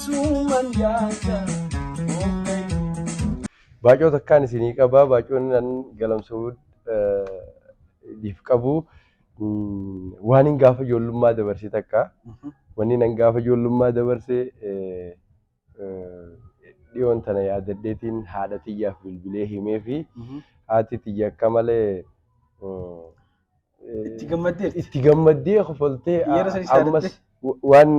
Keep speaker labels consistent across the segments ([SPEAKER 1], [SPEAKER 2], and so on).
[SPEAKER 1] Suman
[SPEAKER 2] jaja Baacoo takkaan isinii qabaa baacoon nan galamsuu dhiif qabu waan hin gaafa ijoollummaa dabarsee takka wanni nan gaafa ijoollummaa dabarsee dhiyoon tana yaadadheetiin haadha tiyyaaf bilbilee himee fi haati tiyya akka malee Itti gammaddeerti. itti gammaddee kofaltee Yeroo sanis ammas wa- waan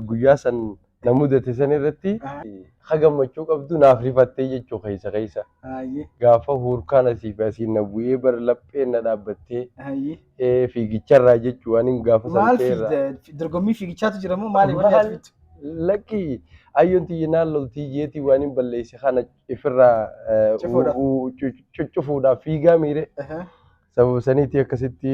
[SPEAKER 2] guyyaa san na mudate san irratti Ah. ha gammachuu qabdu naaf rifattee jechuu keessa keessa Hayyee. gaafa huurkaan asii fi asiin na bu'ee bar lapheen na dhaabbattee Hayyee. ee, fiigicharraa jechuu waan hin gaafa san Maal ta'erraa. fiigda?
[SPEAKER 3] Dorgommii fiigichaatu jira moo maali wanni Maal? ati fiddu? Lakki
[SPEAKER 2] ayyoon tiyya naan loltii jeetii waan hin balleesse kana ifirraa eh, Cufuudhaaf. u- u- cu- cuccufuudhaaf fiigaa miire Aha. Sababa saniitii akkasitti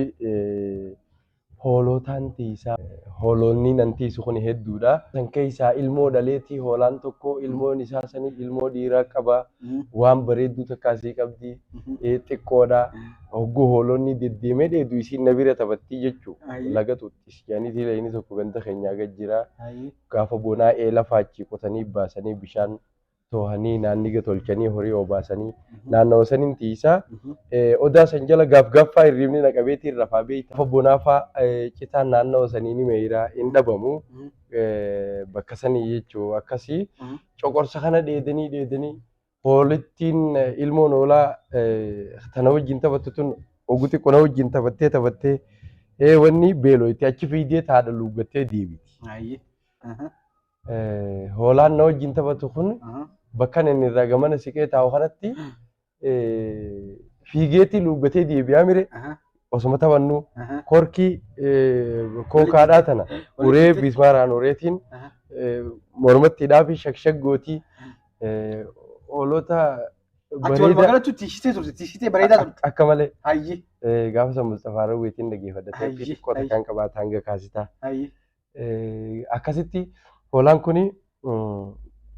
[SPEAKER 2] hoolootaan tiisa. Hooloonni nan tiisu kun hedduudha. San keessaa ilmoo dhaleetii hoolaan tokko ilmoon isaa sanii ilmoo dhiiraa qaba. Waan bareedduu takka asii qabdi. Xiqqoodha. Hogguu hooloonni deddeemee dheedu isiin na bira taphattii jechuu. Laga xuuxxis jedhaniitii lagni tokko ganda keenyaa gad jira. Gaafa bonaa eela faachii qotanii baasanii bishaan toohanii naanniga tolchanii horii oobaasanii naannawa sanin tiisaa odaa san jala gaaf gaaffaa hirriibni na qabeetiin rafaa beeyta lafa bonaafaa citaan naannawa sanii ni meeyra hin dhabamu bakka sanii jechuu akkasii coqorsa kana dheedanii dheedanii hoolittiin ilmoon hoolaa tana wajjin taphattu tun oguu xiqqoo na wajjin taphattee taphattee ee wanni beelooyti achi fiidee taadha luuggattee deebiti. Eh, Hoolaan na wajjin taphatu kun Aha. bakkan inni irraa gamana siqee taa'u kanatti eh, fiigeetii luuggatee deebi'aa mire Aha. osuma taphannu Aha. korkii eh, kookaadhaa tana Walitti uree fixe. bismaaraan ureetiin Aha. eh, mormatti hidhaafi shakshak gootii eh, hoolota Ati wal
[SPEAKER 3] bareeda magaalatti tiishitee turte, tiishitee bareedaa turte. ak- akka malee Hayyi,
[SPEAKER 2] eh, gaafa san Musxafaa Rawweetiin dhageeffadha Ayyi, taphiitti qota ayyi. kan qabaata hanga kaasitaa. hayyi. Akkasitti hoolaan kun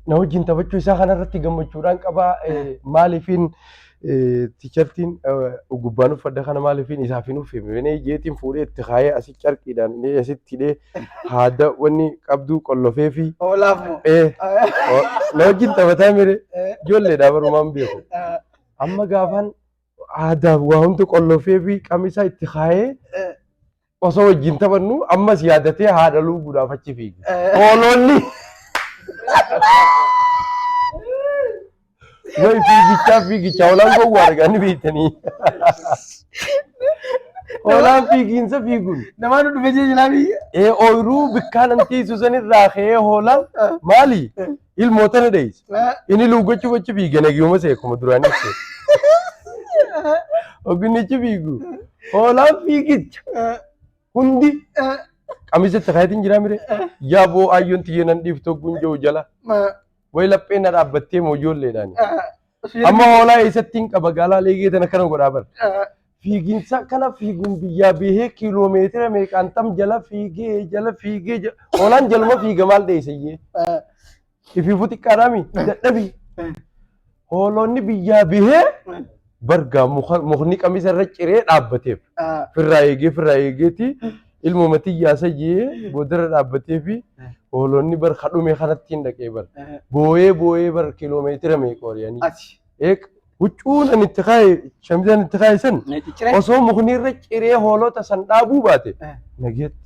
[SPEAKER 2] na wajjin taphachuu isaa kanarratti gammachuudhaan qabaa maaliifiin tiishartiin gubbaan uffadha kana maaliifiin isaaf hin uffifne benee jeetiin fuudhee itti kaayee asi carqiidhaan inni asitti hidhee haada wanni qabduu qollofee fi Hoolaaf moo? na wajjin taphataa mire ijoolleedhaa barumaan beeku. Amma gaafaan aadaaf waa hundi qollofee fi qamisaa itti kaayee Osoo wajjin taphannu ammas yaadatee haadha luuguudhaaf achi fiige. Hoolonni way fiigichaa fiigichaa hoolaan gowwaa arganii beektanii. Hoolaan fiigiinsa fiiguun. Namaan dhufe jee jilaa
[SPEAKER 3] biyya. Ee ooyiruu bikkaan
[SPEAKER 2] antiisu sanirraa ka'ee hoolaan maali? Ilmoo tana deeyse. Inni luuggachuuf achi fiige nagiyuma see akkuma duraan ibse. Ogginni achi fiigu. Hoolaan fiigicha. Hundi qamisa itti kaayatiin jiraa mire. Yaa boo aayyoon tiyya nan dhiiftu ogguun jiru jala. Wayi lapheen na dhaabbattee moo ijoolleedhaani. Amma hoolaa eessatti hin qaba gaalaa leegee tana kana godhaa bar. Fiiginsa kana fiiguun biyyaa bihee kiiloomeetira meeqaan tam jala fiigee jala fiigee jala hoolaan jaluma fiiga maal dheessayyee. Ifiifuu xiqqaadhaami dadhabi. Hoolonni biyyaa bihee bargaa mukni qamisa irra ciree dhaabbateef. Firraa eegee firraa eegeeti Ilmuma tiyyaa sayyee boodarra dhaabbatee fi hoolonni bar kadhume kanatti hin dhaqee bar. Booyee booyee bar kiloomeetira meeqa wariyanii. Ati. Eeg huccuun ani itti kaaye shamizaan itti kaaye san Cicciree. osoo mukni irra ciree hoolota san dhaabuu baate Eh. nageetti.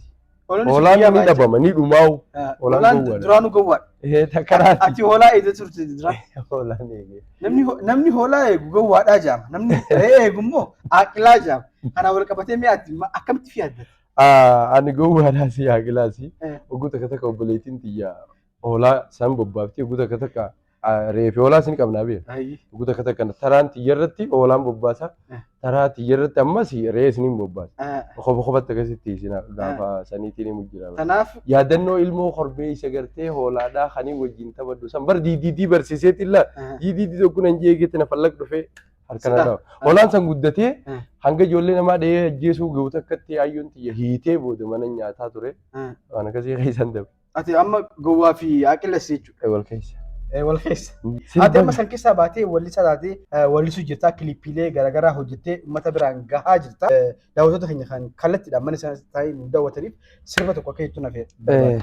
[SPEAKER 2] Hoolonni Hoolaan sirrii ni yaabaa dhabama ni dhumaa'u. jechuudha. Eh, Hoolaan Hoolaan gowwaadha.
[SPEAKER 3] duraanuu gowwaadha. Ee takaraati. Ati hoolaa
[SPEAKER 2] eegdee turte
[SPEAKER 3] dura. Hoolaan eegee.
[SPEAKER 2] Namni ho- namni hoolaa
[SPEAKER 3] eegu gowwaadhaa jaama. Namni re'ee eegu immoo aaqilaa jaama. Kanaan wal qabatee mee ati ma- akkamitti fi yaadda? Ah, ani
[SPEAKER 2] gowwaadhaa si haa gilaasi. Eh. Oguu takka takka obboleettiin tiyya hoolaa san bobbaafti. Oguu takka takka ah, reefi hoolaa sin qabnaa bee. Ayyi. Oguu takka takka taraan tiyya irratti hoolaan bobbaasa. Eh. Taraa tiyya irratti ammas re'ee isiniin bobbaasa. Ah, Kofa kofatti akkasitti isin gaafa saniitiin himu jira. Kanaaf Yaadannoo
[SPEAKER 3] ilmoo
[SPEAKER 2] korbee isa gartee hoolaadhaa kanii wajjin taphadhu san bar diidiidii barsiiseeti illaa ah, diidiidii tokko nan jeegeetti na fallaq dhufee Harka Sita. naadha. Holaan san guddatee Eh. hanga ijoollee namaa dhahee ajjeesuu ga'u takkatti hayyuun tiyya hiitee booda mana nyaataa ture. Eh. Waan akkasii keessan dabe. Ati amma gowwaa
[SPEAKER 3] fi aqilles jechuudha. Wal keessa. Eh,
[SPEAKER 2] Wal keessa.
[SPEAKER 3] Ati amma Sirba san keessaa baatee wallisaa taatee eh, wallisuu jirtaa kiliippiilee garaagaraa hojjettee uummata biraan gahaa jirta. Eh, Daawwattoota keenya kan kallattiidhaan mana isaanii taa'ee nu daawwataniif sirba tokko akka jettu na fe'e. Eh,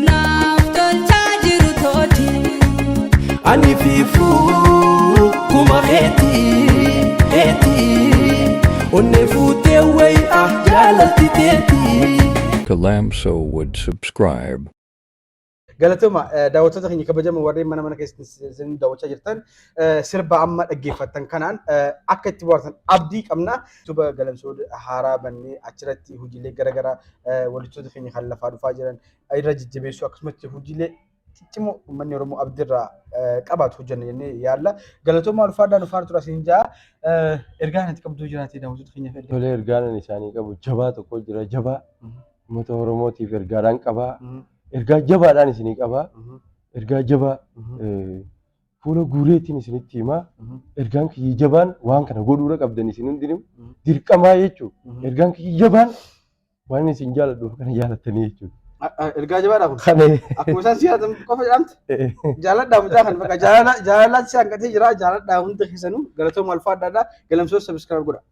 [SPEAKER 4] Naaf tolchaa jiru tooti.
[SPEAKER 1] Ani fiifuu kuma keeti keeti onnee fuutee wayi ah jaalalti teeti. To Lamso
[SPEAKER 5] would subscribe.
[SPEAKER 3] Galatoma daawwattoota keenya kabajamoo warreen mana mana keessatti isin daawwachaa jirtan eh, sirba amma dhaggeeffattan kanaan eh, akka itti bohaartan abdii qabna. Tuba galamsoo haaraa bannee achirratti hojiilee garaagaraa eh, wallistoota keenya kan lafaa dhufaa jiran irra jajjabeessuu akkasumatti hojiilee ciccimoo uummanni Oromoo abdirraa eh, qabaatu hojjenna jennee yaalla. Galatoomaa ulfaadhaa nu faana turaa siin jaa. Eh, Ergaan ati qabduu jiraatee daawwattoota keenyaaf ergaa. Tolee ergaan isaanii qabu
[SPEAKER 2] jabaa tokko jira jabaa Mhm. uummata Oromootiif ergaadhaan qabaa Mhm, ergaa jabaadhaan isinii qabaa mhm, ergaa jabaa mhm. eh, Fuula guureetiin isinitti himaa ergaan kiyya jabaan waan kana godhuura qabdan isin hundinuu dirqamaa jechuudha. Ergaan kiyya jabaan waan isin jaaladhuuf kana jaalattanii jechuudha. Ergaa jabaadha kun.
[SPEAKER 3] Kana Akkuma isaan si yaadatan qofa jedhamte jaaladhaa mucaa kan bakka jaalala jaalalaatti si hanqatee jira jaaladhaa hundi keessanuu galatooma alfaa adda addaa galamsoos sabiskiraayib godha.